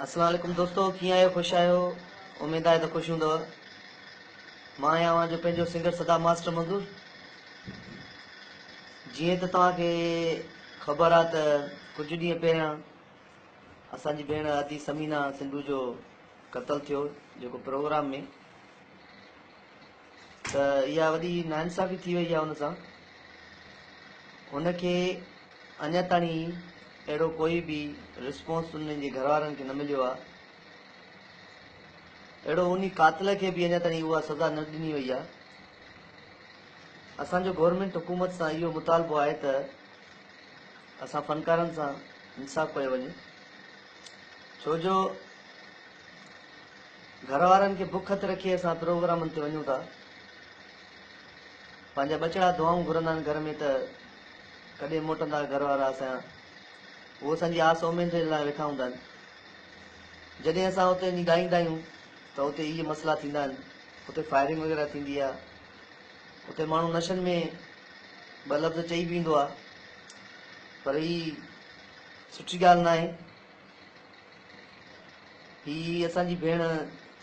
السلام عليڪم دوستو ڪيئن آهيو خوش آهيو اميد آهي ته خوش هوندو مان آهيان اوهان جو پنهنجو سنگر صدا ماسٽر منظور جيئن ته توهان کي خبر آهي ته ڪجهه ڏينهن پهريان اسان جي ڀيڻ ادي سمينا سنڌو جو قتل ٿيو جيڪو پروگرام ۾ ته اها وڏي ناانصافي ٿي وئي آهي هن سان هن کي اڃا تائين اهڙو ڪوئي به رسپانس انهن جي گهر وارن کي نه مليو آهي اهڙو انهي قاتل کي به اڃا تائين اها سزا نه ڏني وئي آهي اسان جو گورنمينٽ حڪومت سان اهو مطالبو آهي ته اسان فنڪارن سان انصاف ڪيو وڃي ڇو جو گهر وارن کي بک هٿ رکي اسان پروگرامن تي وڃون ٿا. پنهنجا ٻچڙا دعائون گهرندا آهن گهر ۾ ته ڪڏهن موٽندا گهر وارا اسان جا. هو اسان جي آس اميدين لاء ويٺا هوندا آهن. جڏهن اسان اتي وڃي ڳائيندا آهيون ته اتي اهي مسئلا ٿيندا آهن. اتي فائرنگ وغيره ٿيندي آهي. اتي ماڻهو نشن ۾ ٻه لفظ چئي به ويندو آهي. پر هي سٺي ڳالهه ناهي. هي اسان جي ڀيڻ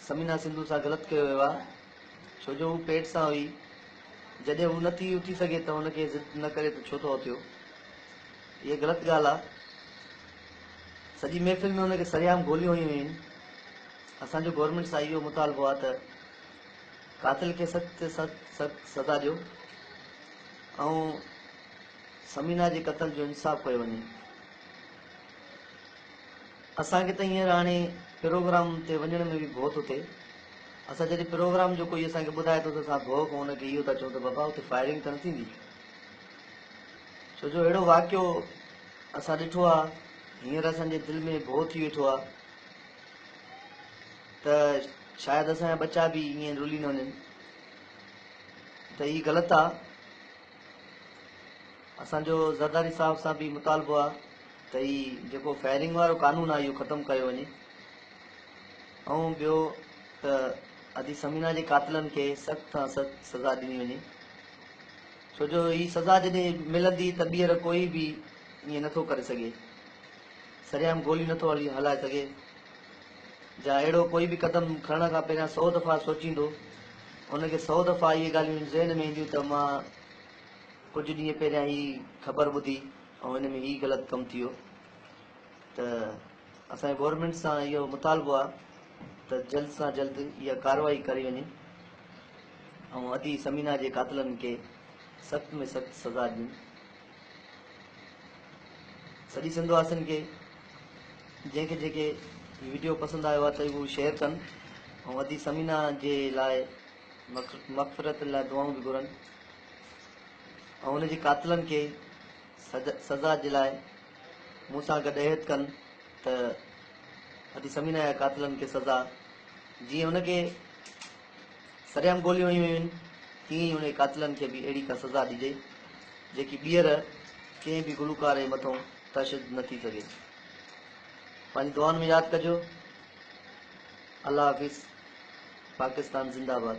ثمينه سنڌو سان غلط ڪيو ويو آهي ڇو جو هو پيٽ سان هئي جڏهن هو نه ٿي اٿي سگهي ته هن کي ضد نه ڪري ته ڇو ٿو اٿيو هيء غلط ڳالهه آهي سڄي محفل ۾ هن کي سريام گوليون هنيون ويون آهن اسان جو گورنمينٽ سان اهو مطالبو آهي ته قاتل کي سخت تي سخت سخت سزا ڏيو ۽ ثمينه جي قتل جو انصاف ڪيو وڃي اسان کي ته هينئر هاڻي پروگرام تي وڃڻ ۾ به ڀؤ ٿو ٿئي. اسان جڏهن پروگرام جو ڪوئي اسان کي ٻڌائي ٿو ته اسان ڀؤ کان ان کي اهو ٿا چئون ته بابا اتي فائرنگ ته نه ٿيندي؟ ڇو جو اهڙو واقعو اسان ڏٺو آهي، هينئر اسان جي دل ۾ ڀؤ ٿي ويٺو آهي ته شايد اسان جا ٻچا به ائين رلي نه وڃن ته هي غلط آهي. اسان جو زرداري صاحب سان به مطالبو آ ته هي جيڪو فائرنگ وارو قانون آ اهو ختم ڪيو وڃي ۽ ٻيو ته ادي ثمينه جي قاتلن کي سخت کان سخت سزا ڏني وڃي ڇو جو هي سزا جڏهن ملندي ته ٻيهر ڪوئي به ائين نٿو ڪري سگهي سريام گولي نٿو هلائي سگهي جا اهڙو ڪوئي به قدم کڻڻ کان پهريان سؤ دفعا سوچيندو. هن کي سؤ دفعا اهي ڳالهيون ذهن ۾ اينديون ته مان ڪجهه ڏينهن پهريان هي خبر ٻڌي ۽ ان ۾ هي غلط ڪم ٿيو ته اسان جو گورنمينٽ سان اهو مطالبو آهي ته جلد سان جلد اها ڪارروائي ڪري وڃي ۽ ادي ثمينه جي قاتلن کي سخت ۾ سخت سزا ڏين. سڄي سنڌ واسين کي جنهن کي جيڪي هي ويڊيو پسند آيو آهي ته هو شيئر ڪن ۽ ادي سمينا جي لاء مغفرت لاء دعائون به گهرن ۽ هن جي قاتلن کي سزا جي لاء مون سان گڏ عهد ڪن ته ادي سمينا جا قاتلن کي سزا جيئن هن کي سرعام گوليون هنيون ويون، تيئن ئي انهي قاتلن کي به اهڙي ڪا سزا ڏجي، جيڪي ٻيهر ڪنهن به گلوڪار ئي مٿون تشد نه ٿي سگهي. پنهنجي دعائن ۾ ياد ڪجو. الله حافظ. پاڪستان زنده آباد.